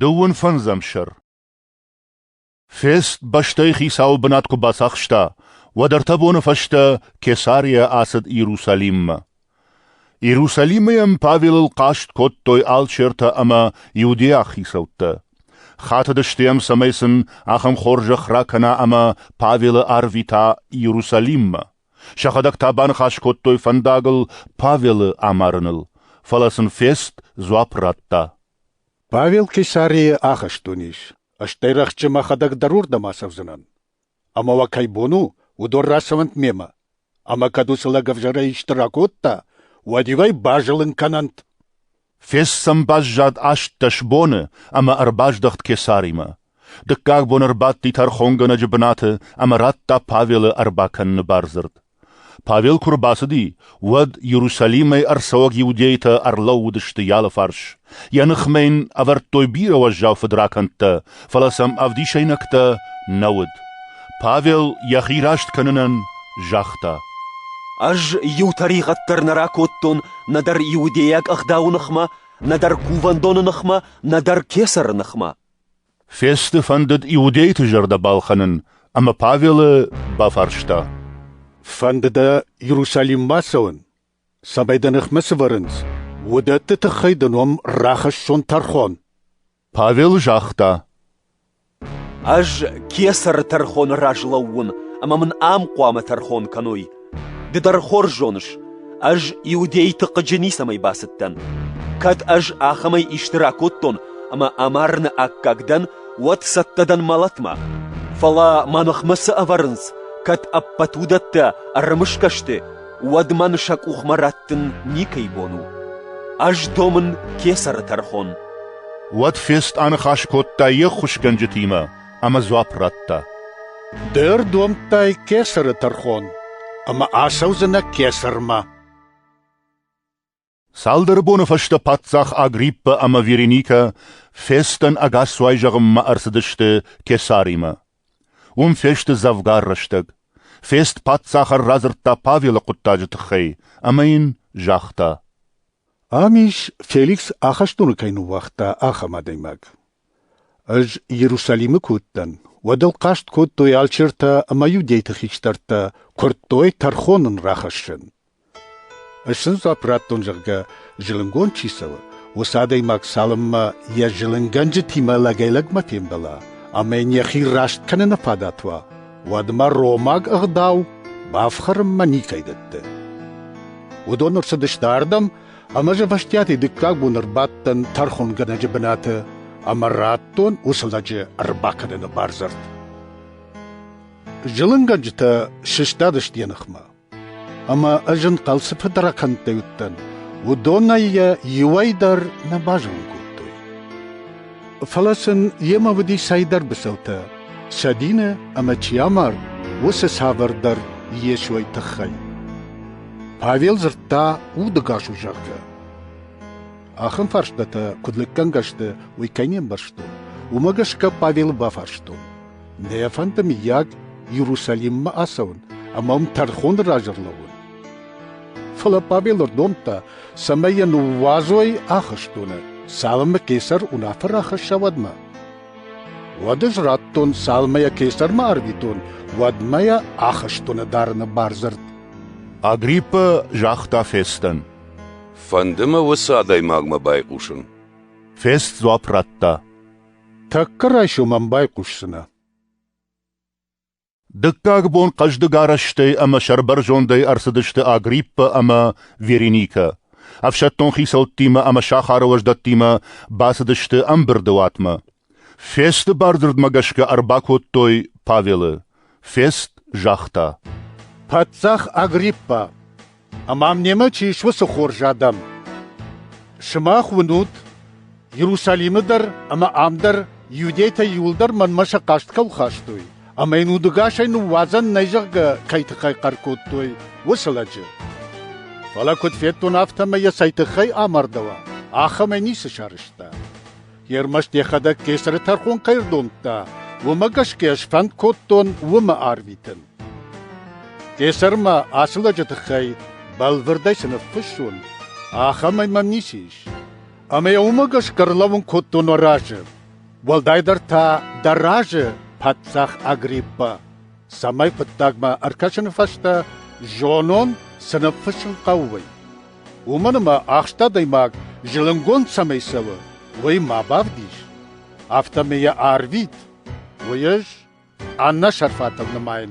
Дыууын фӕндзӕм сӕр. Фест бӕстӕйы хицауы бынат куы бацахста, уӕд ӕртӕ боны фӕстӕ Кесария ацыд Иерусалиммӕ. Иерусалимы йӕм Павелыл хъаст кодтой алчертӕ ӕмӕ иудейаг хицӕуттӕ. Хатыдысты йӕм, цӕмӕй сын ахӕм хорзӕх ракӕна ӕмӕ Павелы арвита Иерусалиммӕ. Сӕхӕдӕг та баныхас кодтой фӕндагыл Павелы амарыныл, фӕлӕ сын фест дзуапп радта. Павел Кесарийы ахызт уынис, стӕй рӕхджы мӕхӕдӕг дӕр уырдӕм ацӕудзынӕн. Ӕмӕ уӕ кӕй бон у, уыдон рацӕуӕнт мемӕ. Ӕмӕ кӕд уыцы лӕг ӕвзӕрӕй исты ракодта, уӕд-иу ӕй базылын кӕнӕнт. Фес сӕм баззад астдӕс боны ӕмӕ ӕрбаздӕхт кесаримӕ. Дыккаг бон ӕрбадти тӕрхонгӕнӕджы бынаты ӕмӕ радта Павелы ӕрбакӕныны бардзырд. Павел куы рбацыди, уӕд Иерусалимӕй ӕрцӕуӕг иудейтӕ ӕрлӕууыдысты йалы фарс. Йӕ ныхмӕ йын ӕвӕрдтой бирӕ уӕззау фыдракӕндтӕ фӕлӕ сӕм ӕвдисӕйнӕгтӕ нӕ уыд. Павел йӕхи раст кӕнынӕн загъта. Ӕз иу тӕригъӕд дӕр нӕ ракодтон нӕдӕр иудейаг ӕгъдауы ныхмӕ, нӕдӕр кувӕндоны ныхмӕ, нӕдӕр кесӕры ныхмӕ. Фесты фӕндыд иудейты зӕрдӕ балхӕнын, ӕмӕ Павелы бафарста. Фӕнды дӕ Иерусалиммӕ цӕуын? Цӕмӕй дӕ ныхмӕ сывӕрынц, уыдӕтты тыххӕй дын уӕм рахӕссон тӕрхон. Павел загъта: Ӕз кесӕры тӕрхоны раз лӕууын ӕмӕ мын ам хъуамӕ тӕрхон кӕной. Ды дӕр хорз зоныс, ӕз иудейты хъыджы ницӕмӕй бацыдтӕн. Кӕд ӕз ахӕмӕй исты ракодтон ӕмӕ амарыны аккаг дӕн, уӕд цӕттӕ дӕн мӕлӕтмӕ. Фӕлӕ мӕ ныхмӕ цы ӕвӕрынц, кӕд ӕппӕт уыдӕттӕ ӕрымысгӕ сты, уӕд мӕн сӕ къухмӕ раттын никӕй бон у. Ӕз домын кесӕры тӕрхон. Уӕд Фест аныхас кодта йе ххуысгӕнджытимӕ ӕмӕ дзуапп радта. Ды ӕрдомдтай кесӕры тӕрхон, ӕмӕ ацӕудзынӕ кесӕрмӕ. Цалдӕр боны фӕстӕ паддзах Агриппӕ ӕмӕ Вереникӕ фестӕн ӕгасцуай зӕгъынмӕ ӕрцыдысты Кесаримӕ. Уым фесты дзӕвгар рӕстӕг. Фест паддзахӕн радзырдта Павелы хъуыддаджы тыххӕй, ӕмӕ йын загъта. Ам ис, Феликс ахӕстоны кӕй ныууагъта, ахӕм адӕймаг. Ӕз Иерусалимы куы уыдтӕн, уӕд ыл хъаст кодтой алчертӕ ӕмӕ иудейты хистӕртӕ, куырдтой тӕрхон ын рахӕссын. Ӕз сын дзуапп радтон, зӕгъгӕ, зылынгонд чи цӕуы, уыцы адӕймаг цалынмӕ йӕ зылынгӕнджытимӕ лӕгӕй-лӕгмӕ фембӕла ӕмӕ йын йӕхи раст кӕныны фадат уа, уӕдмӕ ромаг ӕгъдау бафхӕрынмӕ никӕй дӕтты. Уыдон ӕрцыдысты ардӕм, ӕмӕ ӕз ӕвӕстиатӕй дыккаг бон ӕрбадтӕн тӕрхонгӕнӕджы бынаты ӕмӕ радтон уыцы лӕджы ӕрбакӕныны бардзырд. Зылынгӕнджытӕ сыстадысты йӕ ныхмӕ. ӕмӕ ӕз ын хъӕлцы фыдракӕндтӕй уыдтӕн, уыдонӕй йӕ иуӕй дӕр нӕ базонын кодтой. Фӕлӕ сын йемӕ уыди цӕйдӕр быцӕутӕ, сӕ дины ӕмӕ чи амард, уыцы цавӕрдӕр Йесойы тыххӕй. Павел дзырдта, удыгас у, зӕгъгӕ. Ахӕм фарстатӕ, куыд лӕггӕнгӕ сты, уый кӕй не мбӕрстон, уымӕ гӕсгӕ Павелы бафарстон. Нӕ фӕнды, мыййаг, Иерусалиммӕ ацӕуын ӕмӕ мӕм тӕрхоны раз ӕрлӕууын. Фӕлӕ Павел ӕрдомдта, цӕмӕй йӕ ныууадзой ахӕстоны, цалынмӕ кесар уынаффӕ рахӕсса, уӕдмӕ. Уӕд ӕз радтон, цалынмӕ йӕ кесармӕ арвитон, уӕдмӕ йӕ ахӕстоны дарыны бардзырд. Агриппа загъта Фестӕн. Фӕнды мӕ уыцы адӕймагмӕ байхъусын. Фест дзуапп радта. Тӕккӕ райсом ӕм байхъусдзынӕ. Дыккаг бон хъӕздыг арӕзтӕй ӕмӕ сӕрбӕрзондӕй ӕрцыдысты Агриппа ӕмӕ Вереникӕ. Ӕфсӕддон хицӕуттимӕ ӕмӕ сахары уӕздӕттимӕ бацыдысты ӕмбырды уатмӕ. Фесты бардзырдмӕ гӕсгӕ ӕрбакодтой Павелы. Фест загъта: «Паддзах Агриппа, ӕмӕ мемӕ чи ис, уыцы хорз адӕм! Сымах уынут, Иерусалимы дӕр ӕмӕ ам дӕр иудейтӕ иуылдӕр мӕнмӕ сӕ хъаст кӕм хастой, ӕмӕ йын удыгасӕй ныууадзӕн нӕй зӕгъгӕ кӕй тыххӕй хъӕр кодтой, уыцы лӕджы. Фӕлӕ куыд федтон, афтӕмӕй йӕ цӕй тыххӕй амардӕуа, ахӕмӕй ницы сарӕзта. Ӕрмӕст йӕхӕдӕг кесӕры тӕрхон кӕй рдомдта, уымӕ гӕсгӕ сфӕнд кодтон уымӕ арвитын. Кесӕрмӕ ацы лӕджы тыххӕй бӕлвырдӕй цы ныффыссон, ахӕмӕй мӕм ницы ис. Ӕмӕ йӕ уымӕ гӕсгӕ ӕрлӕууын кодтон уӕ разы. Уӕлдайдӕр та дӕ разы, паддзах Агриппа. цӕмӕй хъуыддагмӕ ӕркӕсыны фӕстӕ зонон, цы ныффыссын хъӕуы, уый. Уымӕн ӕмӕ ахст адӕймаг зылынгонд цӕмӕй цӕуы, уый ма бавдис, афтӕмӕй йӕ арвит, уый ӕз Анна Шарфатовна-мӕн.